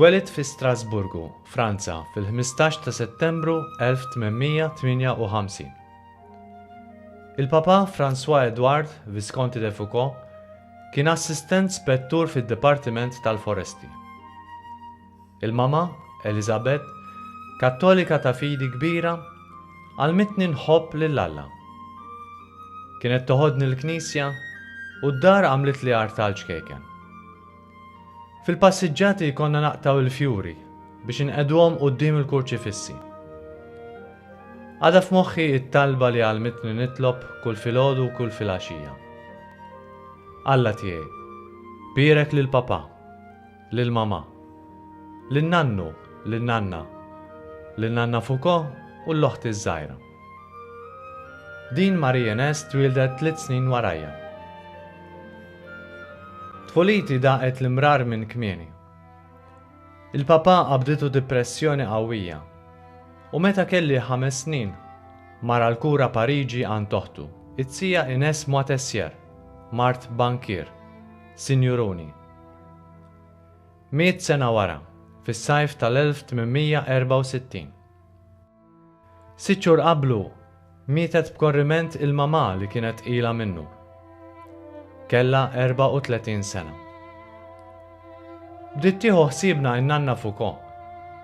Twelid fi Strasburgu, Franza, fil-15 ta' Settembru 1858. Il-Papa François Edouard Visconti de Foucauld Kien Assistent Spettur fid-Dipartiment tal-Foresti. Il-mama, Elizabeth, Kattolika ta' fidi kbira, għallmitni nħobb lil Alla. Kienet toħodni l-knisja u d-dar għamlitli artal ċkejken. Fil-passiġġati konna naqtgħu il-fjuri biex inqegħduhom quddiem il-kurċifissi. Għadha f'moħħi t-talba li għallmitni nitlob kull filgħodu u kull filgħaxija. Alla tiegħi, bierek lil papà, lil mamà, lil nannu, lil nanna, lil nanna Foucault u l-oħti ż-żgħira. Din Marie Enès twieldet tliet snin warajja. Tfuliti daqet l-imrar minn kmieni. Il-papà qabditu dipressjoni qawwija, u meta kelli ħames snin, mar għall-kura Pariġi għand oħtu, it-Tija Ines Moitessier, mart bankier, sinjuruni. Miet sena wara, fis-sajf tal-1864. Sitt xhur qablu, mietet b'korriment il-mamà li kienet tqila minnu. Kellha 34 sena. Bdiet tieħu ħsiebna n-nanna Foucault,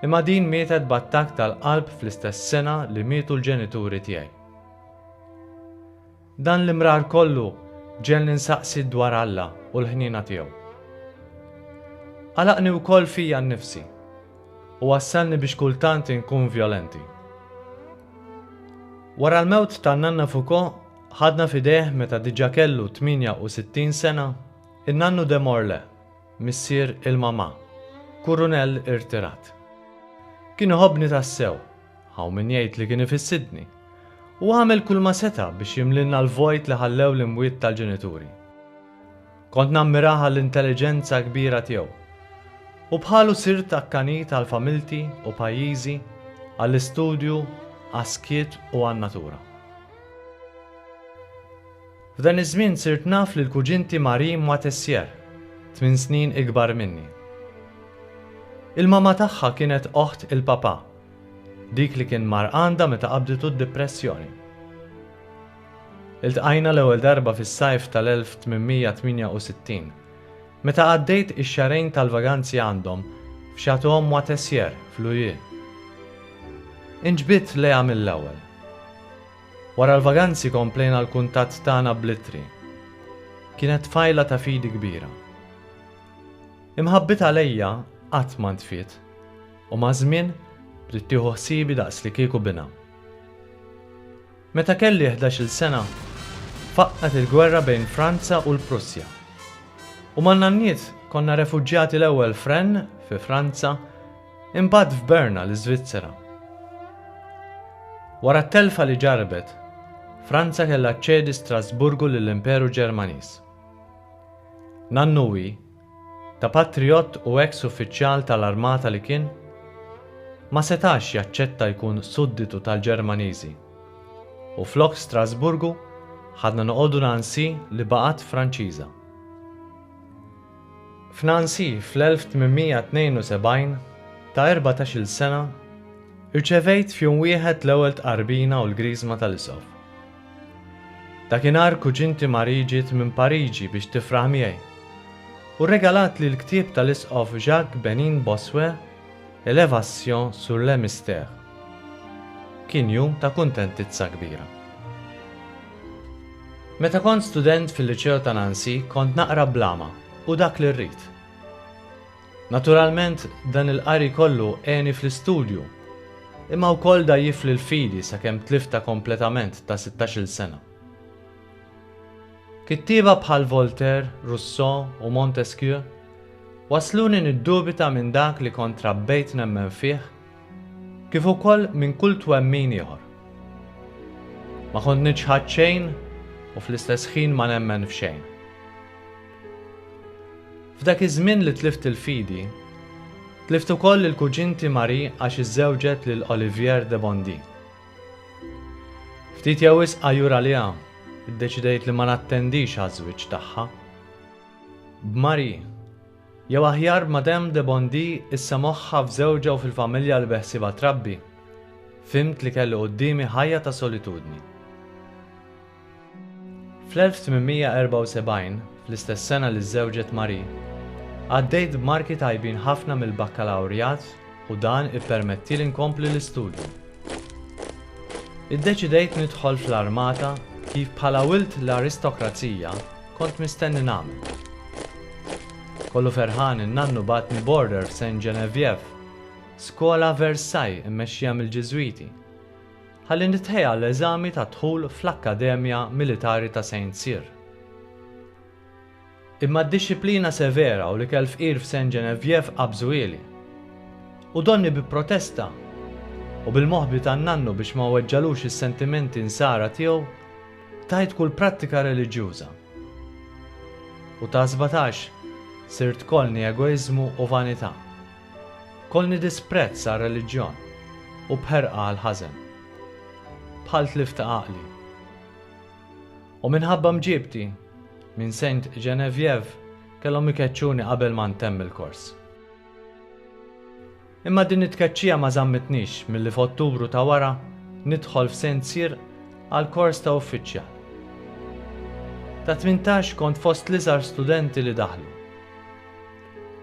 imma din mietet b'attakk tal-qalb fl-istess sena li mietu l-ġenituri tiegħi. Dan l-imrar kollu ġegħelni nsaqsi dwar Alla u l-ħniena tiegħu. Għalaqni wkoll fija nnifsi u wassalni biex kultant inkun vjolenti. Wara l-mewt ta' Nanna Foucaud, ħadna f'idejh meta diġà kellu 68 sena, in-nannu de Morlaix, missier il-mamà, kurunell irtirat. Kien iħobbni tassew. Hawn min jgħid li kien ifissitni. U għamel kulma seta' biex jimlilna l-vojt li ħallew l-imwiet tal-ġenituri. Kont nammirah għall-intelliġenza kbira tiegħu. U bħalu sirt akkanit għal familti u pajjiżi, għall-istudju, għas-skiet u għan-natura. F'dan iż-żmien sirt naf lil kuġinti Marie Moitessier, tmien snin ikbar minni. Il-mamà tagħha kienet oħt il-papà. Dik li kien mar għandha meta qabditu d-dipressjoni. Iltqajna l-ewwel darba fis-sajf tal-1868, meta għaddejt ix-xahrejn tal-vaganzi għandhom f'Chateau Moitessier f'Louhier. Inġbidt lejha mill-ewwel. Wara l-vaganzi komplejna l-kuntatt tagħna bl-ittri. Kienet tfajla ta' fidi kbira. Imħabbitha lejja qatt ma ntfiet. U maż-żmien, bdiet tieħu ħsiebi daqs li kieku binha. Meta kelli ħdax-il sena, faqqgħet il-gwerra bejn Franza u l-Prussja. U man-nanniet konna refuġjati l-ewwel f'Rennes, fi Franza, imbagħad f'Berna, l-Iżvizzera. Wara t-telfa li ġarrbet, Franza kellha ċċedi Strasburgu lill-Imperu Ġermaniż. Nannu u hi, Ta' patrijott u eks uffiċjal tal-armata li kien, ma setax jaċċetta jkun sudditu tal-Ġermaniżi. U flok Strasburgu ħadna noqogħdu Nancy li baqgħet Franċiża. F'Nancy fl-1872, ta' erbatax-il sena, irċevejt f'jum wieħed l-ewwel tqarbina u l-griżma tal-isqof. Dakinhar kuġinti Marie ġiet minn Pariġi biex tifraħ miegħi u rregalatli l-ktieb tal-Isqof Jacques Benin Bossuet Elevation sur le mystère. Kien jum ta' kuntentizza kbira. Meta kont student fil-Liċew ta' Nancy kont naqra bl-għama u dak li rrid. Naturalment, dan il-qari kollu għeni fl-istudju, imma wkoll dgħajjifli l-fidi sakemm tliftha kompletament ta' sittax-il sena. Kittieba bħal Voltaire, Rousseau u Montesquieu wassluni niddubita minn dak li kont trabbejt nemmen fih kif ukoll minn kull twemmin ieħor. Ma kont niċħad xejn u fl-istess ħin ma nemmen f'xejn. F'dak iż-żmien li tlift il-fidi, tlift ukoll lil kuġinti Marie għax iżżewġet lil Olivier de Bondy. Ftit jew wisq għajur għaliha, iddeċidejt li ma nattendix għaż-żwieġ tagħha. B'Marie, jew aħjar b'Madame de Bondy issa moħħha f'żewġha u fil-familja li beħsiebha trabbi, fhimt li kelli quddiemi ħajja ta' solitudni. Fl-1874, fl-istess sena li żżewġet Marie, għaddejt b'marki tajbin ħafna mill-bakkalawrjat u dan ippermettieli nkompli l-istudju. Iddeċidejt nidħol fl-armata kif bħala wild l-aristokrazija kont mistenni nagħmel. Kollu ferħan in-nannu bagħatni b'order f'Saint Geneviève, skola Versailles immexxija mill-Ġiżwiti. Ħalli nitħejja għall-eżami tad-dħul fl-Akkademja Militari ta' Saint Cyr. Imma d-dixxiplina severa u l-ikel fqir f'Saint Geneviève qabżuhieli. U donni bi protesta. U bil-moħbi tan-nannu biex ma weġġalux is-sentimenti nsara tiegħu, tajt kull prattika reliġjuża. U ta' sbatax sirt kollni egoiżmu u vanità. Kollni disprezz għar-reliġjon u b'ħerqa għall-ħażen. Bħal tlift ta' għaqli. U minħabba mġiebti minn Saint Genevieve kellhom ikeċċuni qabel ma ntemm il-kors. Imma din it-tkeċċija ma żammitnix milli f'Ottubru ta' wara nidħol f'Saint Cyr għall-kors ta' uffiċjal. Ta' tmintax kont fost l-iżgħar studenti li daħlu.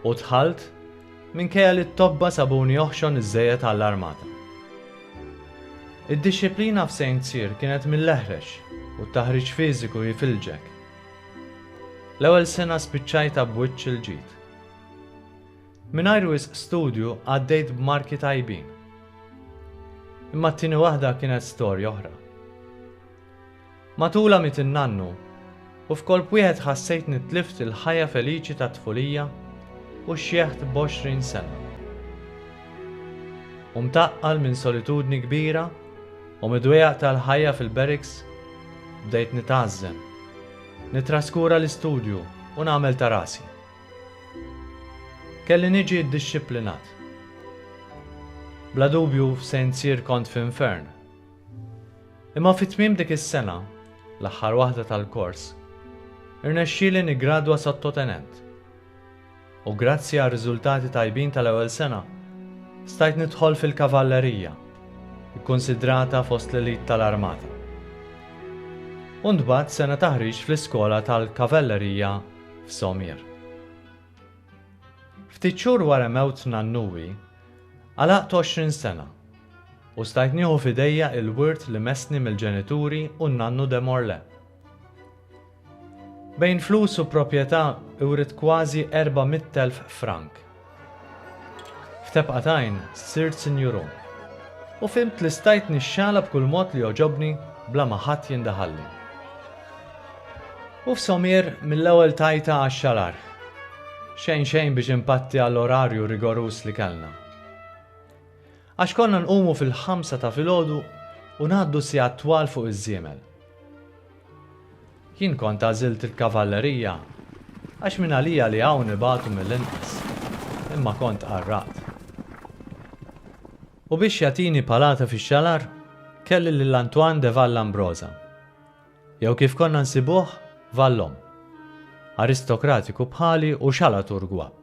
U dħalt, minkejja li t-tobba sabuni oħxon iżżejjed għall-armata. Id-dixxiplina f'Saint Cyr kienet mill-eħrex u t-taħriġ fiżiku jifilġek. L-ewwel sena spiċċajtha b'wiċċ il-ġid. Mingħajr wisq studju għaddejt b'marki tajbin. Imma t-tieni waħda kienet storja oħra. Matulha miet in-nannu, u f'kolp wieħed ħassejtni tlift il-ħajja feliċi tat-tfulija u xjeħt b'għoxrin sena. U mtaqqal minn solitudni kbira u mid-dwejjaq tal-ħajja fil-barracks, bdejt nitgħażżem, nittraskura l-istudju u nagħmel ta' rasi. Kelli niġi ddixxiplinat. Bla dubju f'St. Cyr kont f'infern. Imma fi tmiem dik is-sena, l-aħħar waħda tal-kors, irnexxieli niggradwa sottotenent. U grazzi għar-riżultati tajbin tal-ewwel sena, stajt nidħol fil-kavallerija, ikkunsidrata fost l-elite tal-armata. U ntbagħat sena taħriġ fl-iskola tal-kavellerija f'Somir. Ftit xhur wara mewt nannui, għalaqt għoxrin sena u stajt nieħu f'idejja il-wirt li messni mill-ġenituri u n-nannu de Morlaix. Bejn flus u proprjetà writt kważi erba' mitt elf frank. F'tebqa t'għajn sirt sinjuru u fhimt li stajt nixxala b'kull mod li jogħġobni bla ma ħadd jindaħalli. U f'Somir mill-ewwel tajtha għax-xalar. Xejn xejn biex impatti għall-orarju rigoruż li kellna. Għax konna nqumu fil-ħamsa ta' filgħodu u ngħaddu sigħat twal fuq iż-żiemel. Jien kont għażilt il-kavallerija għax minn għalija li hawn ibatu mill-inqas, imma kont qarraqt. U biex jagħtini palata fix-xalar kelli lil Antoine de Vallambrosa. Jew kif konna nsibuh Vallon, aristokratiku bħali u xalatur gwapp.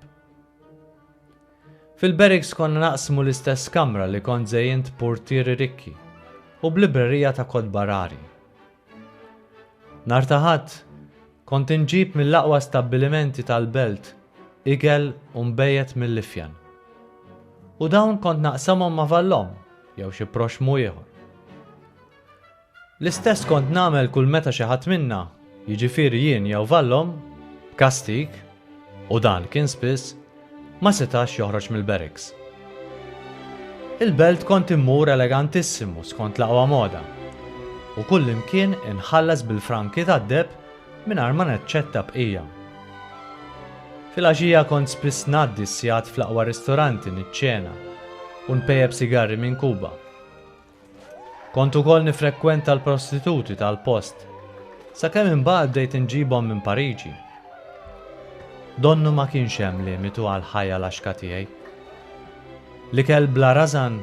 Fil-Berriks konna naqsmu l-istess kamra li kont żejjint purtieri rikki u b'librerija ta' kotba rari. Nhar ta' Ħadd kont inġib mill-aqwa stabbilimenti tal-belt ikel u nbejjed mill-ifjan. U dawn kont naqsamhom ma' Vallon jew xi proxxmu ieħor. L-istess kont nagħmel kull meta xi ħadd minna, jiġifieri jien jew Vallom, b'kastig, u dan kien spiss, ma setax joħroġ mill-barracks. Il-belt kont immur elegantissimu skont l-aqwa moda, u kullimkien inħallas bil-franki tad-deheb mingħajr ma naċċetta bqija. Filgħaxija kont spiss ngħaddi s-sigħat fl-aqwa ristoranti niċċena u npejjep sigarri minn Kuba. Kont ukoll nifrekwenta l-prostituti tal-post, sakemm imbagħad bdejt inġibhom minn Pariġi. Donnu ma kienx hemm limitu għall-ħajja laxka tiegħi. L-ikel bla rażan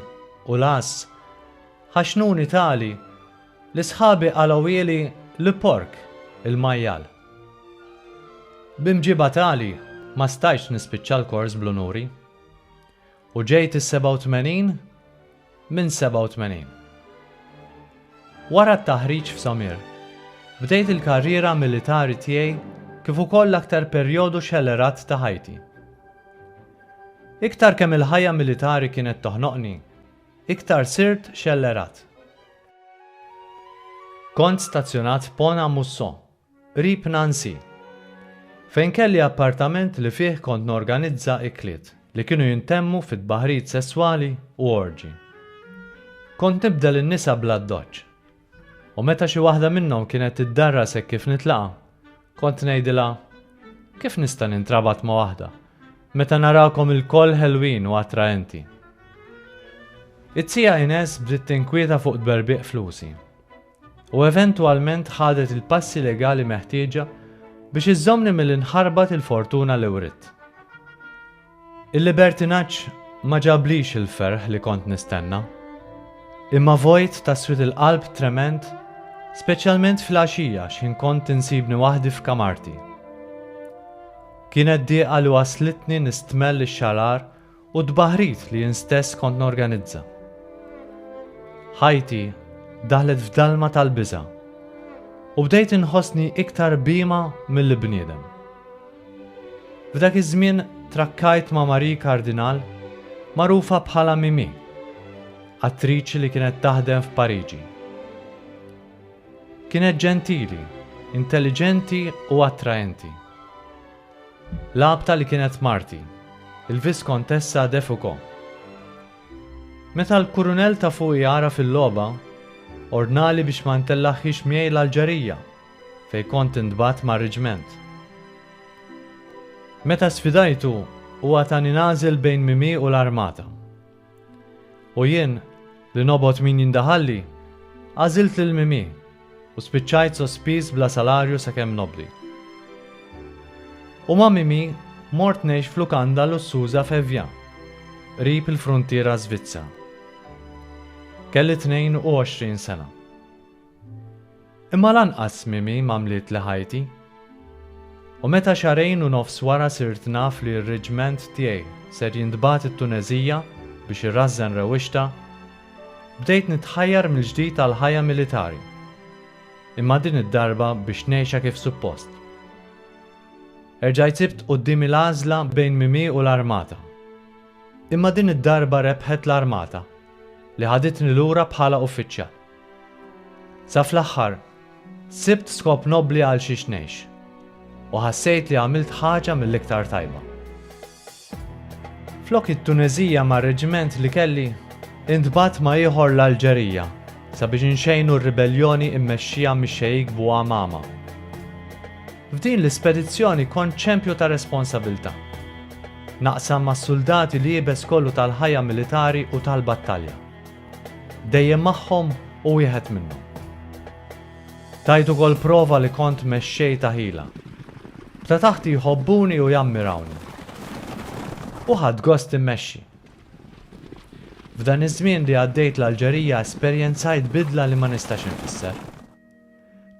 u l-għażż ħaxnuni tali li sħabi qalgħuhieli l-pork il-majjal. B'imġiba tali ma stajtx nispiċċa l-kors bl-unuri. U ġejt is-87? Minn 87. Wara t-taħriġ f'Samir, bdejt il-karriera militari tiegħi kif ukoll l-aktar perjodu xellerat ta' ħajti. Iktar kemm il-ħajja militari kienet toħnoqni, iktar sirt xellerat. Kont stazzjonat f'Pont-à-Mousson, Qrib Nancy. Fejn kelli appartament li fih kont norganizza ikliet li kienu jintemmu fi tbaħħrijiet sesswali u orġi. Kont nibdel in-nisa bl-addoċċ. U meta xi waħda minnhom kienet tiddarras hekk kif nitlaqa', kont ngħidilha, Kif nista' nintrabat ma' waħda, meta narakom ilkoll ħelwin u attraenti? It-Tija Ines bdiet tinkwieta fuq tberbiq flusi. u eventwalment ħadet il-passi legali meħtieġa biex iżżommni milli nħarbat il-fortuna li writt. Il-libertinaġġ ma ġablix il-ferħ li kont nistenna, imma vojt ta' swied il-qalb trement, speċjalment fil-għaxija x'ħin kont insibni waħdi f'kamarti. Kienet dieqa li wasslitni nistmell ix-xarar u t-tbaħrit li jien stess kont norganizza. Ħajti daħlet f'dalma tal-biża' u bdejt inħossni iktar bima mill bniedem. F'dak iż-żmien trakkajt ma' Marie Kardinal, magħrufa bħala Mimi, attriċi li kienet taħdem f'Pariġi. Kienet ġentili, intelliġenti u attraenti. L-għabta li kienet marti, il-Viskontessa de Foucauld. Meta l-Kurunell ta' fuqi għaraf il-logħba, ordnali biex ma ntellagħhiex miegħi l-Alġerija, fejn kont intbagħat mar-riġment. Meta sfidajtu, huwa tani nagħżel bejn Mimì u l-armata. U jien, li nobgħod min jindaħalli, għażilt lil Mimì u spiċċajt sospiż bla salarju sakemm nobbli. U ma' Mimì mort ngħix f'lukanda lussuża f'Evja, qrib il-fruntiera Żvizza. Kelli 22 sena. Imma lanqas Mimi m'għamlitli ħajti. U meta xahrejn u nofs wara sirt naf li r-reġment tiegħi ser jintbagħat it-Tuneżija biex irrażżen rewwixtha, bdejt nitħajjar mill-ġdid għall-ħajja militari. Imma din id-darba biex ngħixha kif suppost. Erġajt sibt quddiemi l-għażla bejn Mimi u l-armata. Imma din id-darba rebħet l-armata, li ħaditni lura bħala uffiċjal. Sa fl-aħħar, sibt skop nobbli għalxiex ngħix, u ħassejt li għamilt ħaġa mill-iktar tajba. Flok it-Tuneżija mar-reġiment li kelli, intbagħat ma' ieħor l-Alġerija sabiex inxejnu r-ribelljoni mmexxija mix-Xejik Bouamama. F'din l-ispedizzjoni kont ċempju ta' responsabilità. Naqsam mas-suldati l-iebes kollu tal-ħajja militari u tal-battalja. Dejjem magħhom u wieħed minnhom. Tajt ukoll prova li kont mexxej ta' ħila. B'ta' taħti jħobbuni u jammirawni. U ħadt gost immexxi. F'dan iż-żmien li għaddejt l-Alġerija esperjenzajt bidla li ma nistax infisser.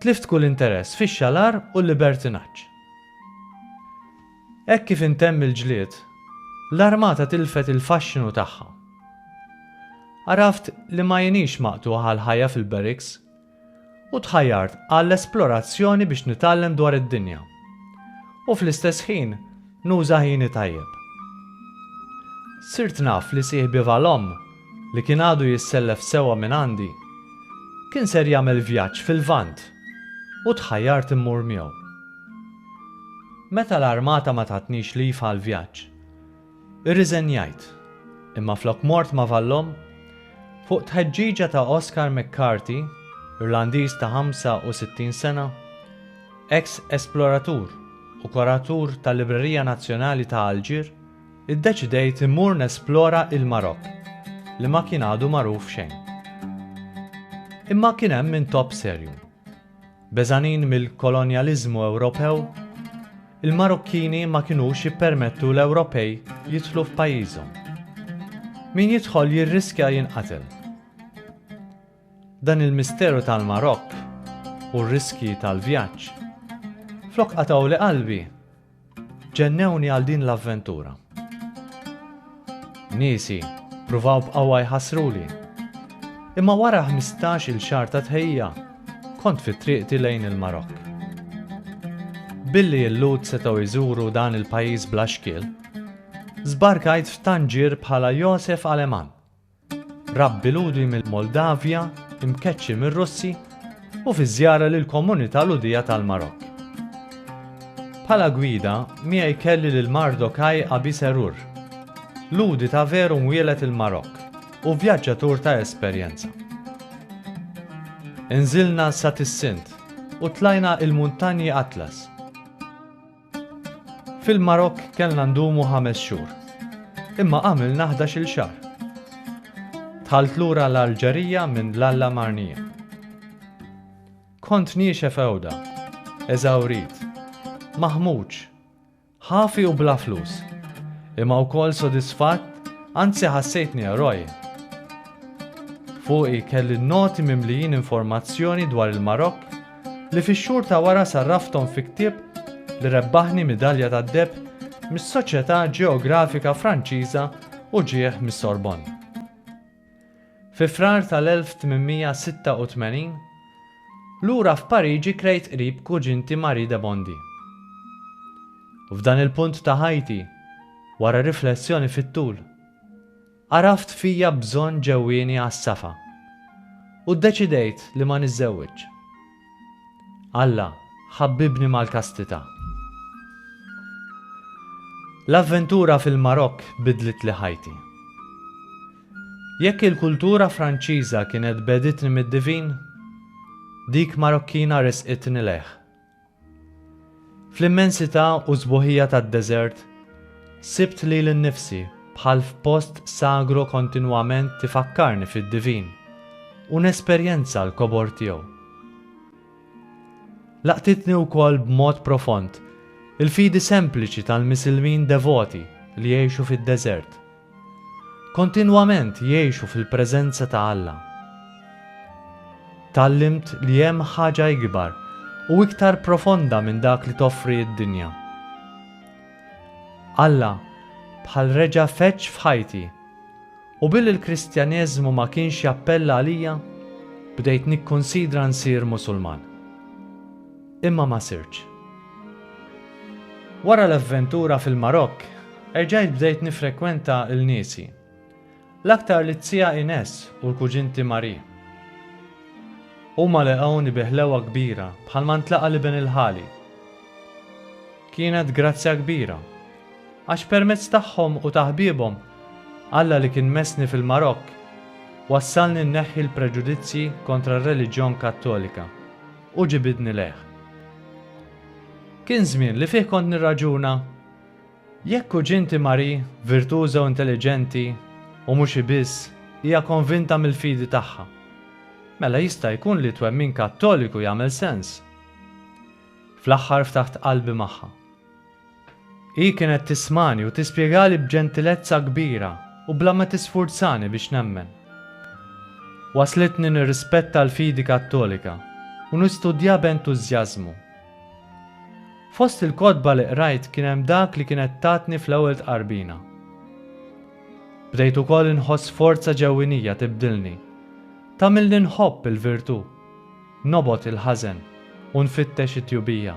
Tlift kull interess fix-xalar u l-libertinaġġ. Hekk kif intemm il-ġlied, l-armata tilfet il-faxxinu tagħha. Għaraft li ma inix maqtugħ għall-ħajja fil-barracks u tħajjart għall-esplorazzjoni biex nitgħallem dwar id-dinja u fl-istess ħin nuża ħini tajjeb. Sirt naf li sieħbiva l-omm li kien għadu jissellef sewwa minn għandi, kien ser jagħmel vjaġġ fil-Lvant u tħajjart immur miegħu. Meta l-armata ma tatnix leave għall-vjaġġ, irriżenjajt, imma flok mort ma' Vallon, fuq tħeġġiġa ta' Oscar McCarthy, Irlandiż ta' 65 sena, eks esploratur u kuratur tal-Librerija Nazzjonali ta' Alġir, Iddeċidejt immur nesplora il-Marokk li ma kien għadu magħruf xejn. Imma kien hemm intopp serju. Beżgħanin mill-kolonjaliżmu Ewropew, il-Marokkini ma kinux jippermettu l-Ewropej jidħlu f'pajjiżhom. Min jidħol jirriskja jinqatel. Dan il-misteru tal-Marokk u r-riskji tal-vjaġġ flok qatgħuli qalbi Ġennewni għal din l-avventura. Niesi pruvaw b'qawwa jħassruli. Imma wara ħmistax-il xahar ta' tħejjija, kont fi triqti lejn il-Marokk. Billi l-Lhud setgħu jżuru dan il-pajjiż bla xkiel, żbarkajt f'Tanġir bħala Josef Aleman. Rabbi Lhudi mill-Moldavja, imkeċċi mir-Russi u fi żjara lill-komunità Lhudija tal-Marokk. Bħala gwida, miegħi kelli lil Mardokaj Abi Serur, Lhudi ta' veru mwieled il-Marokk u vjaġġatur ta' esperjenza. Inżilna sa Tissint u tlajna il-Muntanji Atlas. Fil-Marokk kellna ndumu ħames xhur, imma għamilna ħdax-il xahar. Dħalt lura l-Alġerija minn Lalla Marnija. Kont niexef għewda, eżawrit, maħmuġ, ħafi u bla flus, imma wkoll sodisfatt anzi ħassejtni eroj. Fuqi kelli noti mimlijin informazzjoni dwar il-Marokk li fix-xhur ta' wara sarrafthom fi ktieb li rebbaħni midalja tad-deheb mis-Soċjetà Ġeografika Franċiża u ġieħ mis-Sorbonne. Fi Frar tal-1886, lura f'Pariġi krejt qrib kuġinti Marie de Bondy. F'dan il-punt ta' ħajti, wara riflessjoni fit-tul, Għaraft fija bżonn ġewwieni għas-safa u ddeċidejt li ma niżżewwiġx. Alla ħabbibni mal-kastità. L-avventura fil-Marokk biddlitli ħajti. Jekk il-kultura Franċiża kienet begħditni mid-divin, dik Marokkina ressqitni lejh. Fl-immensità u s-sbuħija tad-deżert, sibt lili nnifsi bħal f'post sagro kontinwament tifakkarni fid-divin u nesperjenza l-kobor tiegħu. Laqtitni wkoll b'mod profond il-fidi sempliċi tal-Misilmin devoti li jgħixu fid-deżert. Kontinwament jgħixu fil-preżenza ta' Alla. Tgħallimt li hemm ħaġa ikbar u iktar profonda minn dak li toffri d-dinja. Alla bħal reġa' feġġ f'ħajti, u billi l-Kristjaneżmu ma kienx jappella għalija, bdejt nikkunsidra nsir Musulman. Imma ma sirtx. Wara l-avventura fil-Marokk, erġajt bdejt niffrekwenta l-niesi. L-aktar lit-tija Ines u l-kuġinti Marie. Huma lehquni bi ħlewwa kbira bħalma ntlaqa' l-iben il-ħali. Kienet grazzja kbira, għax permezz tagħhom u ta' ħbiebhom, Alla li kien messni fil-Marokk, wassalni nneħħi l-preġudizzji kontra r-reliġjon Kattolika. U ġibidni lejh. Kien żmien li fih kont nirraġuna, Jekk kuġinti Marie, virtuża u intelliġenti, u mhux hi biss, hija konvinta mill-fidi tagħha, mela jista' jkun li twemmin Kattoliku jagħmel sens. Fl-aħħar ftaħt qalbi magħha. Hi kienet tismagħni u tispjegali b'ġentilezza kbira u bla ma tisfurzani biex nemmen. Wasslitni nirrispetta l-fidi Kattolika u nistudjha b'entużjażmu. Fost il-kotba li qrajt kien hemm dak li kienet tatni fl-ewwel tqarbina. Bdejt ukoll inħoss forza ġewwinija tibdilni, tagħmilni nħobb il-virtù, nobgħod il-ħażen u nfittex it-tjubija.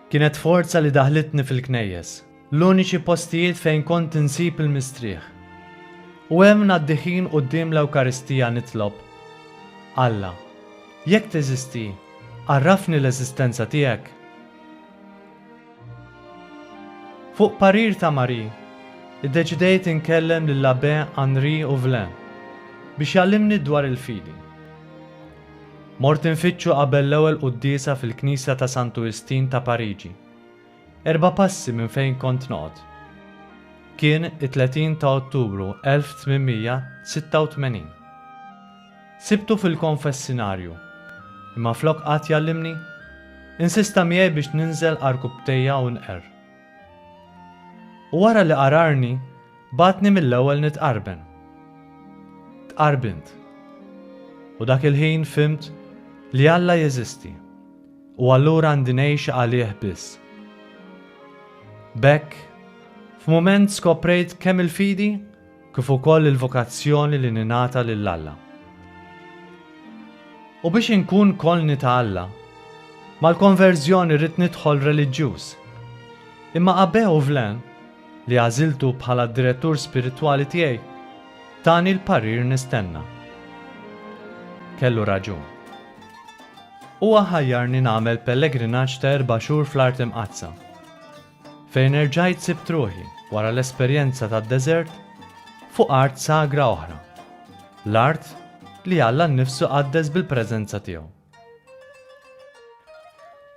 Kienet forza li daħlitni fil-knejjes, l-uniċi postijiet fejn kont insib il-mistrieħ. U hemm ngħaddi ħin quddiem l-Ewkaristija nitlob, Alla, jekk teżisti, għarrafni l-eżistenza tiegħek. Fuq parir ta' Marie, iddeċidejt inkellem lill-Abbè Henri Ouvlin biex jgħallimni dwar il-fidi. Mort infittxu qabel l-ewwel quddiesa fil-knisja ta' Santu Istin ta' Pariġi, erba' passi minn fejn kont noqgħod. Kien it-30 ta' Ottubru 1886. Sibtu fil-konfessinarju, imma flok qagħad jgħallimni, insista miegħi biex ninżel għarkupptejja u nqerr. U wara li qararni, bagħatni mill-ewwel nitqarben. Tqarbint. U dak il-ħin fhimt li Alla jeżisti u allura għandi ngħix għalih biss. B'hekk, f'mument skoprejt kemm il-fidi kif ukoll il-vokazzjoni li ningħata lil Alla. U biex inkun kolni ta' Alla, mal-konverżjoni rrid nidħol reliġjuż. Imma Abbé Auvlin, li għażiltu bħala d-direttur spiritwali tiegħi, tani l-parir nistenna. Kellu raġun. Huwa ħajjarni nagħmel pellegrinaġġ ta' erba' xhur fl-Art Imqaddsa. Fejn erġajt sibt ruħi, wara l-esperjenza tad-deżert, fuq art sagra oħra, l-art li Alla nnifsu qaddes bil-preżenza tiegħu.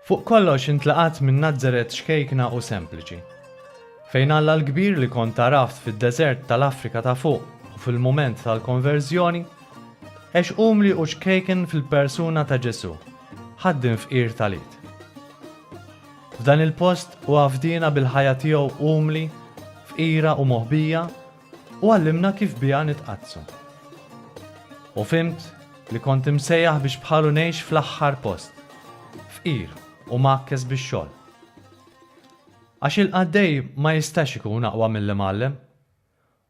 Fuq kollox intlaqat minn Nazaret xkejkna u sempliċi, fejn Alla l-kbir li kont għaraft fid-deżert tal-Afrika ta' Fuq u fil-mument tal-konverżjoni, għex umli u xkejken fil-persuna ta' Ġesù, ħaddim fqir tal-id. F'dan il-post hu għaffdina bil-ħajja tiegħu umli, fqira u moħbija u għallimna kif biha nitqaddsu. U fhimt li kont imsejjaħ biex bħalu ngħix fl-aħħar post, fqir u mgħakkes bix-xogħol. Għax il-qaddej ma jistax ikun aqwa mill-imgħallem.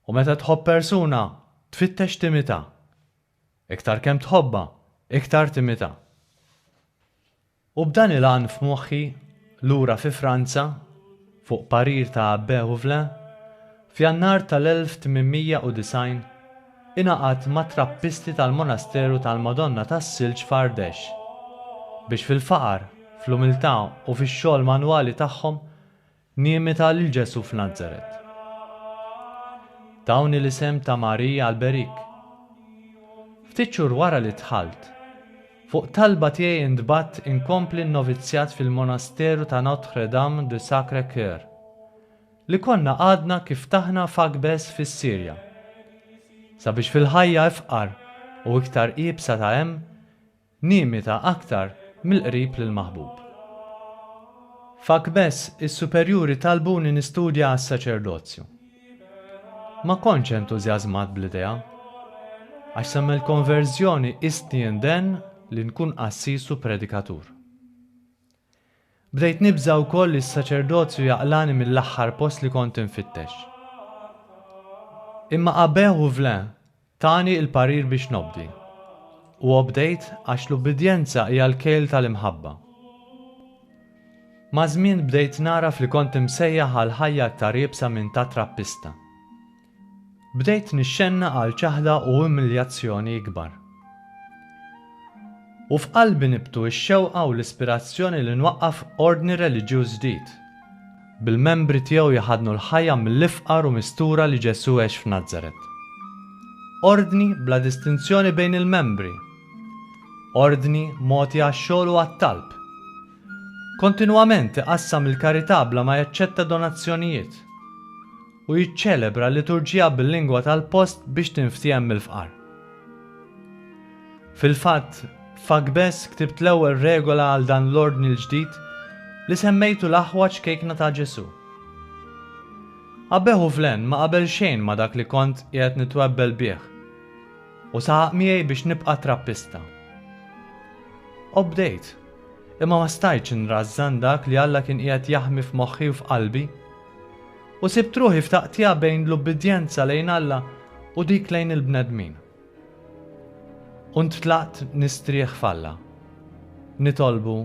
U meta tħobb persuna tfittex timitha. Iktar kemm tħobbha, iktar timitha. U b'dan il-għan f'moħħi, lura fi Franza, fuq parir ta' Abbé Houvelin, f'Jannar tal-1890 ingħaqadt mat-Trappisti tal-Monasteru tal-Madonna tas-Silġ f'Għardex, biex fil-faqar, fl-umiltà u fix-xogħol manwali tagħhom Nimita lil Ġesù f'Nazaret. Tawni l-isem ta' Marija Alberik. Ftit xhur wara li dħalt, fuq talba tiegħi intbagħat inkompli n-novizzjat fil-monasteru ta' Notre Dame du Sacré Coeur, li konna għadna kif ftaħna f'Akbes fis-Sirja, sabiex fil-ħajja ifqar u iktar iebsa ta' hemm, Nimita aktar mill-qrib lill-maħbub. F'Akbess is-superjuri talbuni nistudja għas-saċerdozju. Ma kontx entużjażmat bl-idea. Għax sa mill-konverżjoni qistni indenn li nkun qassis u predikatur. Bdejt nibża' wkoll li s-saċerdozju jaqlagħni mill-aħħar post li kont infittex. Imma Abbè Houvelin tani l-parir biex nobdi. U obdejt għax l-ubbidjenza hija l-kejl tal-imħabba. Maż-żmien bdejt nagħraf li kont imsejjaħ għal ħajja aktar iebsa minn ta' trappista. Bdejt nixxenna għal ċaħda u umiljazzjoni ikbar. U f'qalbi nibtu x-xewqa u l-ispirazzjoni li nwaqqaf ordni reliġjuż ġdid, bil-membri tiegħu jħaddnu l-ħajja mill-ifqar u mistura li Ġesù għex f'Nazaret. Ordni bla distinzjoni bejn il-membri! Ordni mogħti għax-xogħol u għat-talb! Kontinwament iqassam il-karità bla ma jaċċetta donazzjonijiet! u jiċċelebra l-liturġija bil-lingwa tal-post biex tinftiehem mill-fqar. Fil-fatt, f'Agbes ktibt l-ewwel regola għal dan l-ordni l-ġdid li semmejtu l-aħwa ċkejkna ta' Ġesù. Abeħu fl-għen ma qabel xejn ma' dak li kont qiegħed nitwebbel bih u saħaq miegħi biex nibqa' trappista. Obdejt, imma ma stajtx nrażżan dak li Alla kien qiegħed jaħmi f'moħħi u f'qalbi. U sibt ruħi f'taqtigħa bejn l-ubbidjenza lejn Alla u dik lejn il-bnedmin. U ntlaqt nistrieħ f'Alla, nitolbu,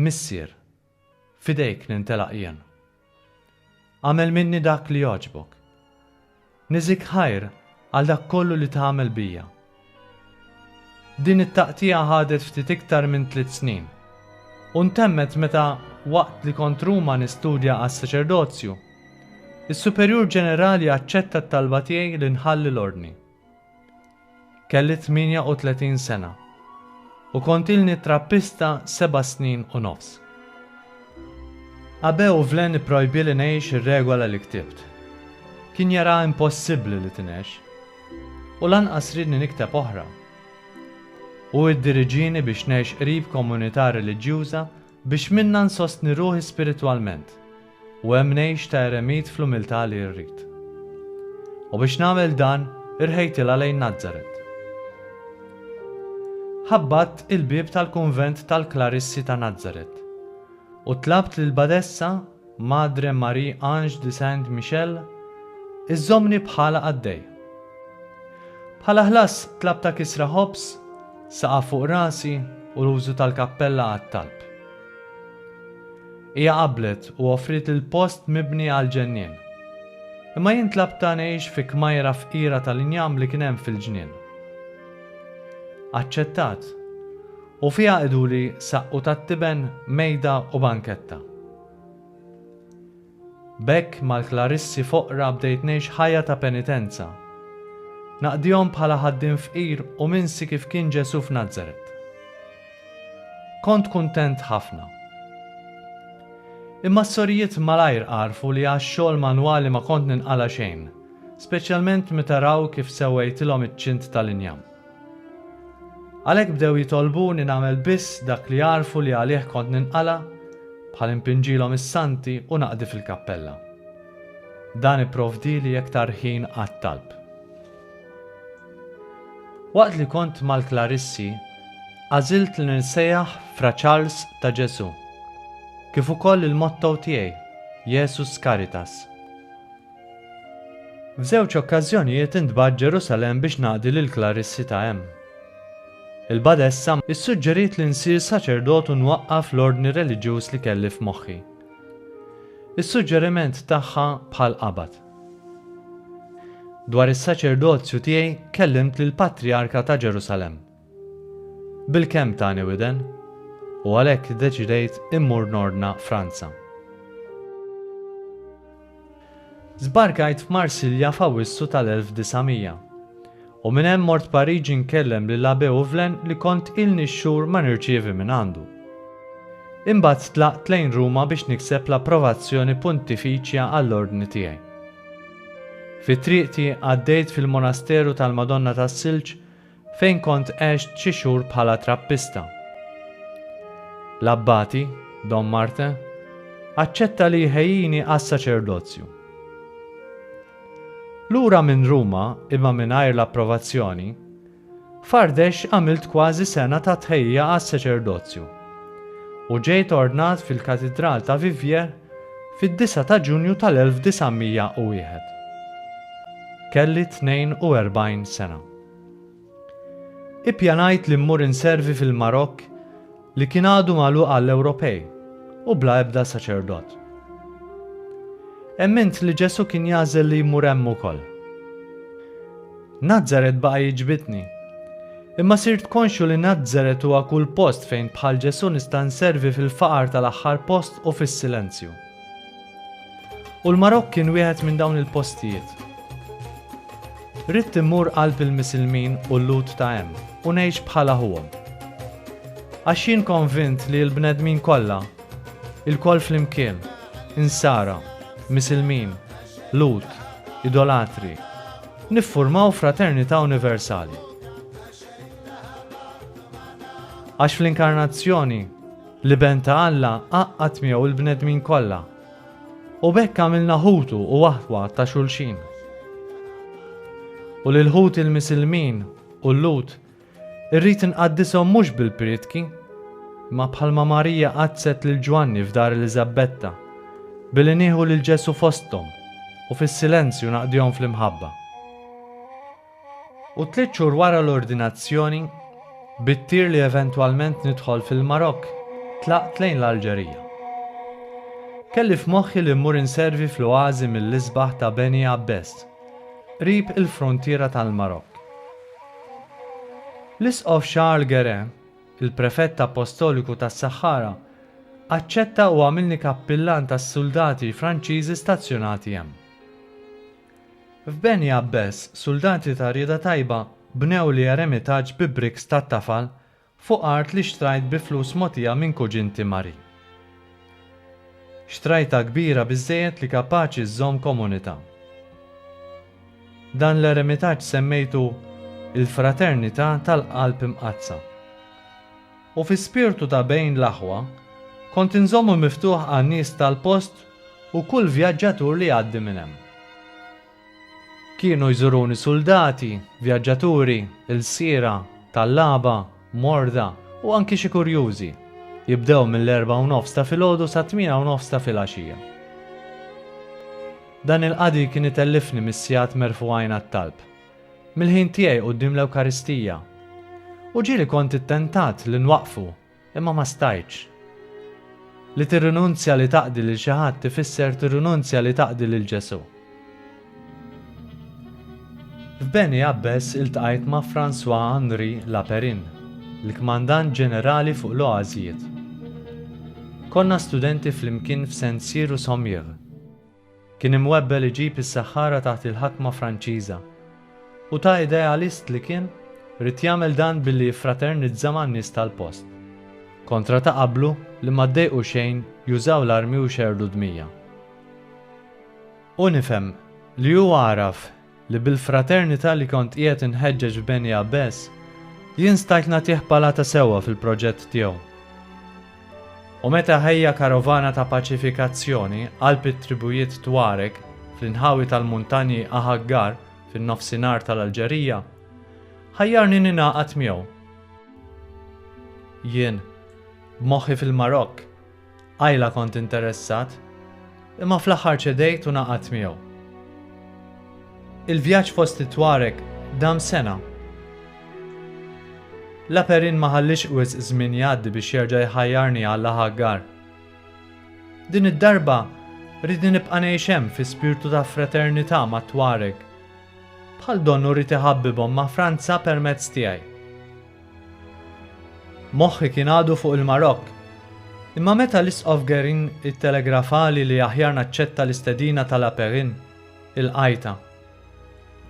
Missier, f'idejk nintelaq jien. Agħmel minni dak li jogħġbok. Niżik ħajr għal dak kollu li tagħmel bija. Din it-taqtigħa ħadet ftit iktar minn tliet snin, u ntemmet meta, waqt li kont Ruma nistudja għas-saċerdozju, is-Superjur Ġenerali aċċetta t-talba tiegħi li nħalli l-Ordni. Kelli 38 sena u kont ilni trappista seba' snin u nofs. Abe u Vlen ipprojbieli ngħix ir-regola li ktibt. Kien jaraha impossibbli li tingħex. U lanqas riedni nikteb oħra. Hu iddiriġieni biex ngħix qrib komunità reliġjuża Biex minnha nsostni ruħi spiritwalment, u hemm ngħix ta' eremit fl-umiltà li rrid. U biex nagħmel dan, irħejtilha lejn Nazaret. Ħabbatt il-bieb tal-kunvent tal-Klarissi ta' Nazaret u tlabt lill-Badessa Madre Marie Ange de Saint Michel, iżżommni bħala qaddej. Bħala ħlas tlab ta' kisra ħobż, saqaf fuq rasi u l-użu tal-kappella għat-talb. Hija qablet u offriet il-post mibni għall-ġennien. Imma jien tlabtha ngħix fi kmajra fqira tal-injam li kien hemm fil-ġnien. Aċċettat. U fiha iduri saqqu tat-tiben, mejda u banketta. B'hekk mal-klarissi foqra bdejt ngħix ħajja ta' penitenza. Naqdihom bħala ħaddiem fqir u minsi kif kien Ġesù f'Nazaret. Kont kuntent ħafna. Imma s-sorijiet malajr għarfu li għax-xogħol manwali ma kont ninqala' xejn, speċjalment meta raw kif sewwejtilhom iċ-ċint tal-injam. Għalhekk bdew jitolbuni nagħmel biss dak li jagħrfu li għalih kont ninqala' bħal impinġilhom is-Santi u naqdi fil-kappella. Dan ipprovdieli iktar ħin għat-talb. Waqt li kont mal-Klarissi, għażilt li ninsejjaħ Fra Charles ta' Ġesù, kif ukoll il-motto tiegħi, Jesus Caritas. F'żewġ okkażjonijiet intbagħat Ġerusalemm biex naqdi lill-klarissi ta' hemm. Il-badessa ssuġġeriet li nsir saċerdot u nwaqqaf l-ordni reliġjuż li kelli f'moħħi. Is-suġġeriment tagħha bħal qabad. Dwar is-saċerdozju tiegħi kellimt lill-Patrijarka ta' Ġerusalemm. Bil-kemm tani widen, u għalhekk iddeċidejt immur nordna Franza. Żbarkajt f'Marsilja f'Awwissu tal-1900, u minn hemm mort Pariġi nkellem lil Abbé Ouvlen li kont ilni xhur ma nirċievi minn għandu. Imbagħad tlaqt lejn Ruma biex nikseb l-approvazzjoni Puntifiċja għall-ordni tiegħi. Fi triqti għaddejt fil-Monasteru tal-Madonna tas-Silġ fejn kont għext xi xhur bħala trappista. L-abbati, Dom Martin, aċċetta li jħejjini għas-saċerdozju. Lura minn Ruma, imma mingħajr l-approvazzjoni, f'Għardex għamilt kważi sena ta' tħejjija għas-saċerdozju u ġejt ordnat fil-Katidral ta' Vivier fid-9 ta' Ġunju tal-1901. Kelli 42 sena. Ippjanajt li mmur inservi fil-Marokk li kien għadu magħluq għall-Ewropej u bla ebda saċerdot. Emmint li Ġesù kien jagħżel li jmur hemm ukoll. Nazaret baqa' jiġbidni. Imma sirt konxju li Nazaret huwa kull post fejn bħal Ġesù nista' nservi fil-faqar tal-aħħar post u fis-silenzju. U l-Marokk kien wieħed minn dawn il-postijiet. Ridt immur qalb il-Misilmin u l-Lhud ta' hemm u ngħix bħala ħuhom. Għax jien konvint li l-bnedmin kollha, ilkoll flimkien, Insara, Misilmin, Lhud, Idolatri, niffurmaw fraternità universali. Għax fl-Inkarnazzjoni, L-Iben ta' Alla għaqqad miegħu l-bnedmin kollha, u b'hekk għamilna ħutu u aħwa ta' xulxin. U lil ħuti l-Misilmin u l-Lhud irrid inqaddishom mhux bil-prietki, imma bħalma Marija qaddset lil Ġwanni f'dar Eliżabbetta, billi nieħu lil Ġesù fosthom u fis-silenzju naqdihom fl-imħabba. U tliet xhur wara l-ordinazzjoni, bit-tir li eventwalment nidħol fil-Marokk, tlaqt lejn l-Alġerija. Kelli f'moħħi li mmur inservi fl-oażi mill-isbaħ ta' Beni Abbes, qrib il-fruntiera tal-Marokk. L-Isqof Charles Guérin, il-Prefett Appostoliku tas-Saħħara, aċċetta u għamilni kappillan tas-suldati Franċiżi stazzjonati hemm. F'Beni Għabbes, suldati ta' rieda tajba bnew li eremitaġġ bi bricks tat-tafal fuq art li xtrajt bi flus mogħtija minn kuġinti Marie. Xtrajtha kbira biżżejjed li kapaċi żżomm komunità. Dan l-eremitaġġ semmejtu Il-Fraternità tal-Qalb Imqaddsa. u fi spirtu ta' bejn l-aħwa, kont inżommu miftuħ għan-nies tal-post u kull vjaġġatur li jgħaddi minn hemm. Kienu jżuruni suldati, vjaġġaturi, ilsiera, tallaba, morda u anki xi kurjużi, jibdew mill-erbgħa u nofs ta' filgħodu sat-tmiena u nofs ta' filgħaxija. Dan il-qadi kien itellifni mis-sigħat merfugħin għat-talb. mill-ħin tiegħi quddiem l-Ewkaristija. U ġieli kont ittentat li nwaqqfu, imma ma stajtx. Li tirrinunzja li taqdi lil xi ħadd ifisser tirrinunzja li taqdi lil Ġesù. F'Beni Abbes iltqajt ma' François Henri Laperin, l-Kmandant Ġenerali fuq l-Oażijiet. Konna studenti flimkien f'Saint-Cyr u Sommières. Kien imwebbel iġib is-Saħħara taħt il-ħakma Franċiża. U ta' idealist li kien, ried jagħmel dan billi jiffraternizza man-nies tal-post. Kontra ta' qablu li ma ddejqu xejn jużaw l-armi u jxerrdu dmija. U nifhem li hu għaraf li bil-fraternità li kont qiegħed inħeġġeġ f'Beni Abbes, jien stajt nagħtih palata sewwa fil-proġett tiegħu. U meta ħejja karovana ta' paċifikazzjoni qalb it-tribujiet Tuareg fl-inħawi tal-muntanji Ahaggar fin-nofsinhar tal-Alġerija, ħajjarni ningħaqad miegħu. Jien, b'moħħi fil-Marokk, Qajla kont interessat, imma fl-aħħar ċedejt u ngħaqadt miegħu. Il-vjaġġ fost it-Tuareg dam sena. La Perrine ma ħalliex wisq żmien jgħaddi biex jerġa' jħajjarni għal La Haggar. Din id-darba rridni nibqa' ngħix hemm fi spirtu ta' fraternità mat-Tuareg. Bħal donnu rrid iħabbibhom ma' Franza permezz tiegħi. Moħħi kien għadu fuq il-Marokk. Imma meta l-Isqof Guerin ittelegrafali li aħjar naċċetta l-istedina ta' La Perrine, ilqajtha.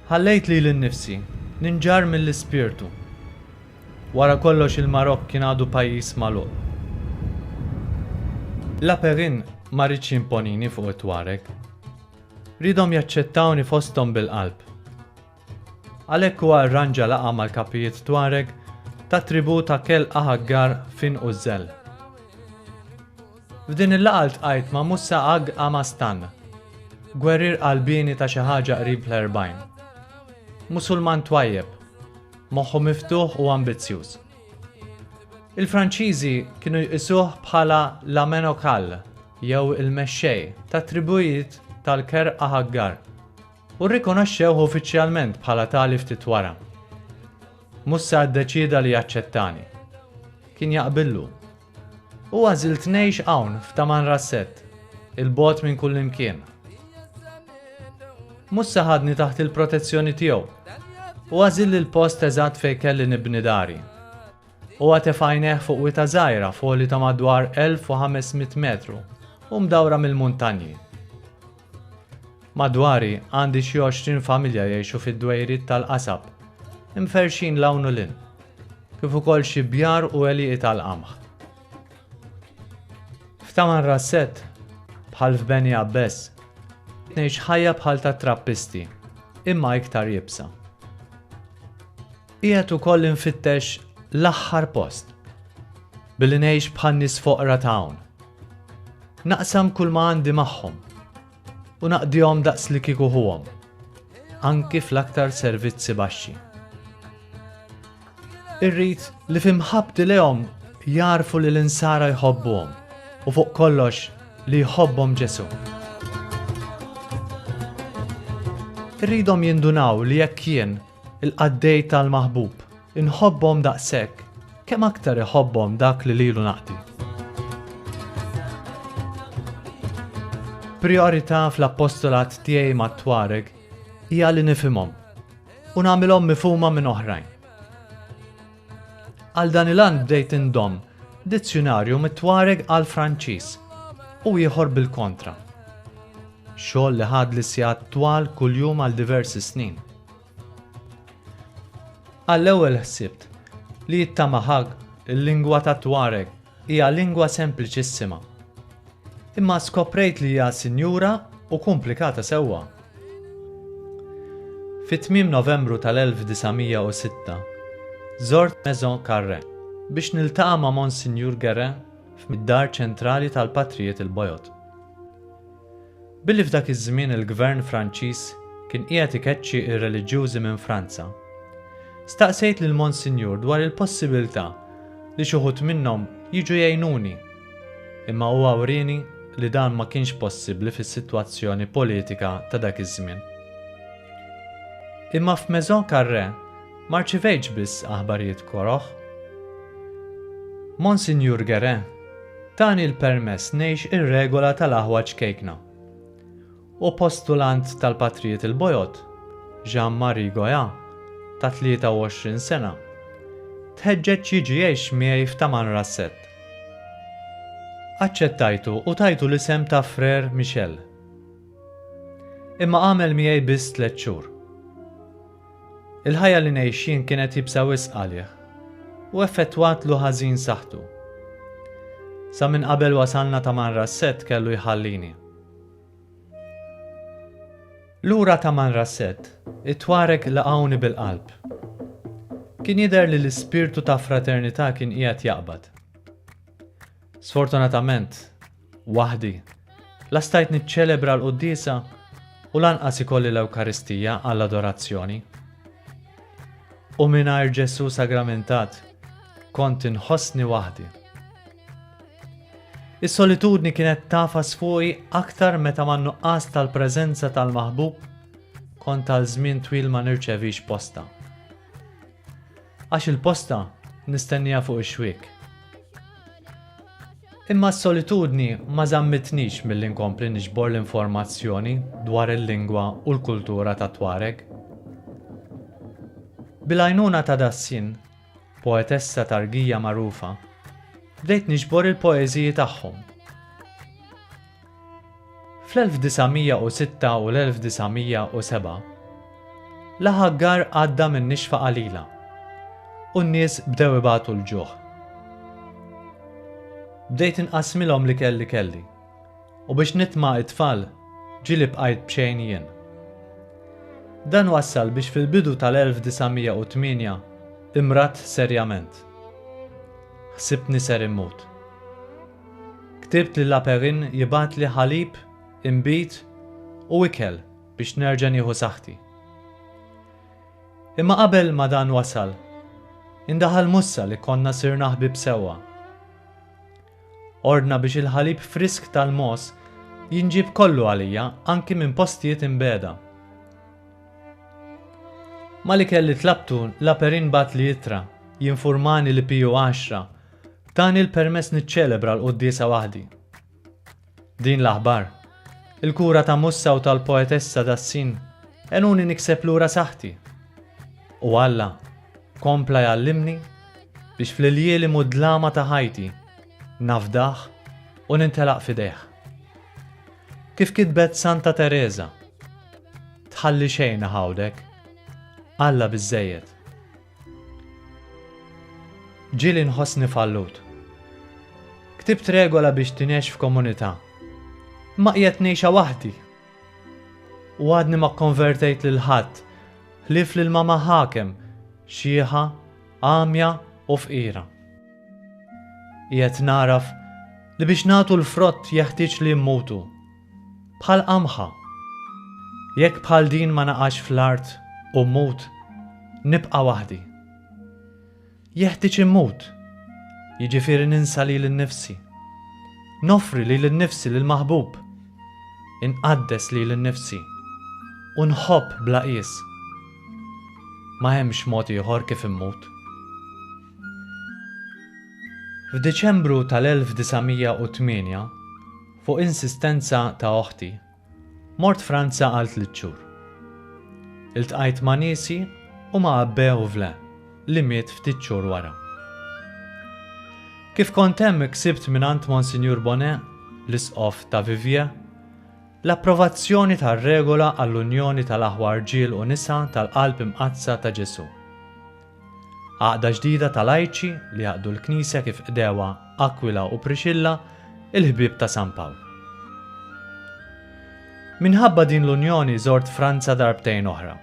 Ħallejt lili nnifsi ninġarr mill-ispirtu. Wara kollox il-Marokk kien għadu pajjiż magħluq. La Perrine ma riedx jimponini fuq it-Tuareg. Riedhom jaċċettawni fosthom bil-qalb. Għalhekk huwa rranġa laqgħa mal-kapijiet Tuareg tat-tribù ta' Kell Ahaggar f'Għin Użżel. F'din il-laqgħa ltqajt ma' Musa Ag Amastan, gwerrier qalbieni ta' xi ħaġa qrib l-erbgħin. Musulman twajjeb, moħħu miftuħ u ambizzjuż. Il-Franċiżi kienu jqisuh bħala la menocal jew il-mexxej tat-tribùjiet tal-Kerr Ahaggar. u rrikonoxxewh uffiċjalment bħala tali ftit wara. Mussa ddeċieda li jaċċettani. Kien jaqbillu. U għażilt ngħix hawn f'Tamanrasset, il-bogħod minn kullimkien. Mussa ħadni taħt il-protezzjoni tiegħu u għażil il-post eżatt fejn kelli nibni dari. U għatef għajneħ fuq wita żgħira foli ta' madwar 1500 metru u mdawra mill-muntanji. Madwari għandi xi għoxrin familja jgħixu fid-dwejriet tal-qasab, imferrxin 'l hawn u 'l hinn, kif ukoll xi bjar u għelieqi tal-qamħ. F'Taman Rasset, bħal f'Beni Abbes, tgħix ħajja bħal tat-trappisti, imma iktar iebsa. Qiegħed ukoll infittex l-aħħar post, billi ngħix bħan-nies foqra ta' hawn. Naqsam kull ma għandi magħhom u naqdihom daqs li kieku ħuhom, anki fl-aktar servizzi baxxi. Irrid li fimħabti lehom jarfu li l-insara jħobbuhom u fuq kollox li jħobbhom Ġesu. Irridhom jindunaw li jekk jien Il-qaddej tal-maħbub, inħobbhom daqshekk, kemm aktar iħobbhom dak li lilu naqdi. Priorità fl-appostolat tiegħi mat-Twareg hija li nifhimhom u nagħmilhom mifhuma minn oħrajn. Għal dan il-għan bdejt indom dizzjunarju mit-Twareg għal Franċiż u ieħor bil-kontra. Xogħol li ħad li sigħat twal kuljum għal diversi snin. Għall-ewwel ħsibt li it-Tamahag, il-lingwa tat-Tuareg, hija lingwa sempliċissima. Imma skoprejt li hija sinjura u kumplikata sewwa. Fi tmiem Novembru tal-1906, żort Maison Carre biex niltaqa' ma' Monsinjur Guérin f'mid-dar ċentrali tal-Patrijiet il-Bojod. Billi f'dak iż-żmien il-Gvern Franċiż kien qiegħed ikeċċi r-reliġjużi minn Franza, staqsejt lil Monsinjur dwar il-possibiltà li xi wħud minnhom jiġu jgħinuni, imma huwa wrieni li dan ma kienx possibbli fis-sitwazzjoni politika ta' dak iż-żmien. Imma f'Maison Carré ma rċivejtx biss aħbarijiet koroh. Monsinjur Guérin Tani l-permess ngħix ir-regola tal-aħwa ċkejkna. Hu postulant tal-Patrijiet il-Bojod, Jean Marie Goya, ta' 23 sena, tħeġġeġ jiġi jgħix miegħi f'Tamanrasset. Aċċettajtu u tajtu l-isem ta' Frère Michel. Imma għamel miegħi biss tliet xhur. Il-ħajja li ngħixin kienet jibsa wisq għalih u effettwatlu ħażin saħħtu. Sa minn qabel wasalna ta' Manrassett kellu jħallini. Lura ta' Manrassett, it-Twareg laqgħuni bil-qalb. Kien jidher li l-ispirtu ta' fraternità kien qiegħed jaqbad. Sfortunatament, waħdi. La stajt niċċelebra l-quddiesa u lanqas ikolli l-Ewkaristija għall-adorazzjoni. U mingħajr Ġesù sagramentat, kont inħossni waħdi. Is-solitudni kienet tafas fuqi aktar meta man nuqqas tal-preżenza tal-maħbub kont tal żmien twil ma nirċevix posta. Għax il-posta nistennieha fuq ix-xwiek. Imma s-solitudni ma żammitnix milli nkompli niġbor l-informazzjoni dwar il-lingwa u l-kultura tat-Tuareg. Bil-għajnuna ta' Dassin, poetessa Targija magħrufa, bdejt niġbor il-poeżiji tagħhom. Fl-1906 u l-1907, l-aħaggar għadda minn nixfa qalila u n-nies bdew ibatu l-ġuħ. Bdejt inqassmilhom l-ikel li kelli u biex nitma' t-tfal ġieli bqajt b'xejn jien. Dan wassal biex fil-bidu tal-1908 imradt serjament. Ħsibtni ser immut. Ktibt lil Aperin jibgħatli ħalib, inbid u ikel biex nerġa' nieħu saħħti. Imma qabel ma dan wasal, indaħal Mussa li konna sirna ħbieb sewwa. Ordna biex il-ħalib frisk tal-mogħoż jinġieb kollu għalija anki minn postijiet imbegħda. Mali kelli tlabtu, l-Aperin bagħatli ittra jinfurmani li PU 10 Tani l-permess niċċelebra l-quddiesa waħdi. Din l-aħbar, il-kura ta' Mussa u tal-poetessa tas-Sin għenuni nikseb lura saħħti. U Alla kompla jgħallimni biex fl-iljielem u d-dlama ta' ħajti nafdah u nintelaq f'idejh. Kif kitbet Santa Tereża, Tħalli xejn iħawdek, Alla biżżejjed. Ġieli nħossni fallut. Ktibt regola biex tinexx f'komunità. Imma qiegħed ngħixha waħdi. U għadni ma kkonvertejt lil ħadd, ħlief lil mama ħakem, xieħa, għamja u fqira. Qiegħed nagħraf li biex nagħtu l-frott jeħtieġ li mmutu. bħal qamħa. Jekk bħal din ma naqax fl-art u mmut, nibqa' waħdi. Jeħtieġ immut, jiġifieri ninsa lili nnifsi. Noffri lili nnifsi lill-maħbub. Inqaddes lili nnifsi u nħobb bla qies. Ma hemmx mod ieħor kif immut. F'Diċembru tal-1908, Fuq insistenza ta' oħti, mort Franza għal tliet xhur. Iltqajt ma' niesi u ma' Abbe Ouvle, li miet ftit xhur wara. Kif kont hemm ksibt mingħand Monsinjur Bonnet, l-Isqof ta' Viviers, l-approvazzjoni tar-regola għall-unjoni tal-aħwa rġiel u nisa tal-Qalb Imqaddsa ta' Ġesù. Għaqda ġdida ta' lajċi li jaqdu l-Knisja kif qdewha Aquila u Priscilla, il-ħbieb ta' San Pawl. Minħabba din l-unjoni żort Franza darbtejn oħra,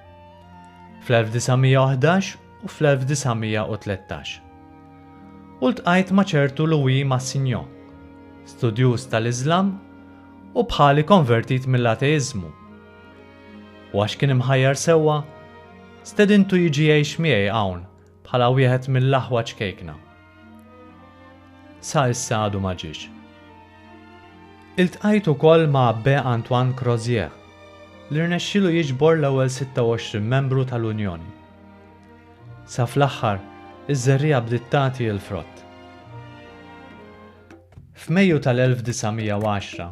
fl-1911 u fl-1913. U ltqajt ma' ċertu Louis Massignon, studjuż tal-Iżlam u bħali konvertit mill-ateiżmu, U għax kien imħajjar sewwa, stedintu jiġi jgħix miegħi hawn bħala wieħed mill-aħwa ċkejkna. Sa issa għadu ma ġiex. Iltqajt ukoll ma' Abbé Antoine Crozier, li rnexxielu jiġbor l-ewwel 26 membru tal-Unjoni. Sa fl-aħħar, iż-żerriegħa bdiet tagħti l-frott. F'Mejju tal-1910,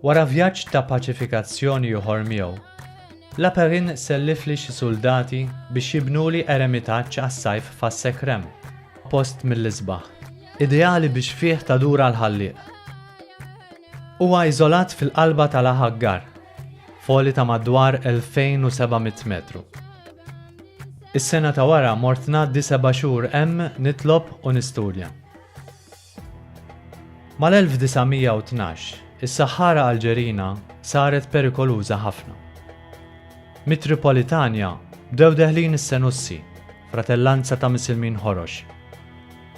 Wara vjaġġ ta' paċifikazzjoni ieħor miegħu, Laperrin sellifli xi suldati biex jibnuli eremitaġġ għas-sajf f'Għas-Sekrem, post mill-isbaħ, ideali biex fih tadur għall-Ħallieq. Huwa iżolat fil-qalba ta' La Haggar, f'għoli ta' madwar 2,700 metru. Is-sena ta' wara mort ngħaddi seba' xhur hemm nitlob u nistudja. Mal-1912, is-Saħħara Alġerina saret perikoluża ħafna. Mit-Tripolitania bdew deħlin is-Senussi, fratellanza ta' Misilmin Ħorox,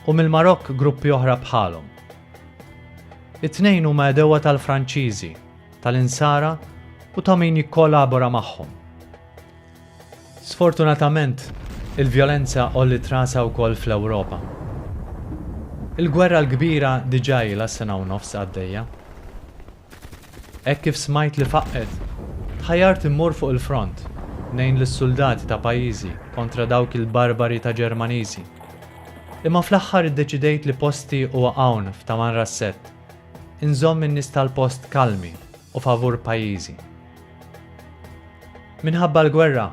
u mill-Marokk gruppi oħra bħalhom. It-tnejn huma għedewwa tal-Franċiżi, tal-Insara u ta' min jikkolabora magħhom. Sfortunatament, il-vjolenza għolliet rasha wkoll fl-Ewropa. Il-Gwerra l-Kbira diġà ilha sena u nofs għaddejja. Hekk kif smajt li faqqgħet, tħajjart immur fuq il-front ngħin lis-suldati ta' pajjiżi kontra dawk il-barbari ta' Ġermaniżi. Imma fl-aħħar iddeċidejt li posti huwa hawn f'Tamanrasset, inżomm in-nies tal-post kalmi u favur pajjiżi. Minħabba l-gwerra,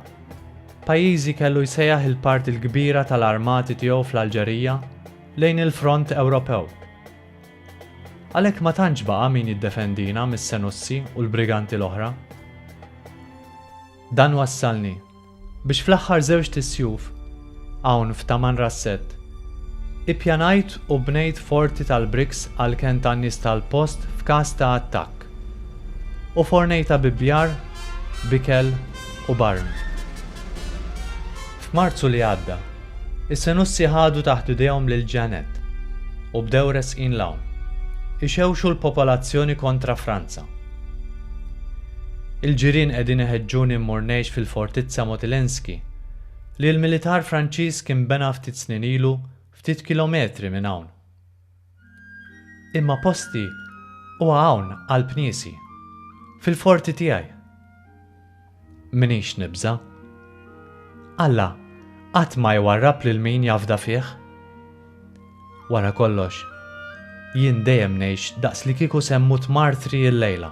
pajjiżi kellu jsejjaħ il-parti l-kbira tal-armati tiegħu fl-Alġerija lejn il-front Ewropew. Għalhekk ma tantx baqa' min jiddefendina mis-Senussi u l-briganti l-oħra. Dan wassalni Biex fl-aħħar żewġt is-sjuf, hawn f'Taman Rassett, ippjanajt u bnejt forti tal-briks għall-kenn tan-nies tal-post f'każ ta' attakk. U fornejt abibbjar b'ikel u b'arm. F'Marzu li għadda, is-Senussi ħadu taħt idejhom lil Jeannette u bdew resqin 'l hawn, ixewxu l-popolazzjoni kontra Franza. Il-ġirien qegħdin iħeġġuni mmur ngħix fil-Fortizza Motylenski, li l-militar Franċiż kien bena ftit snin ilu ftit kilometri minn hawn. Imma posti huwa hawn qalb niesi, fil-forti tiegħi. M'iniex nibża'. Alla qatt ma jwarrab lil min jafda fih. Wara kollox, jien dejjem ngħix daqslikieku se mmut martri illejla.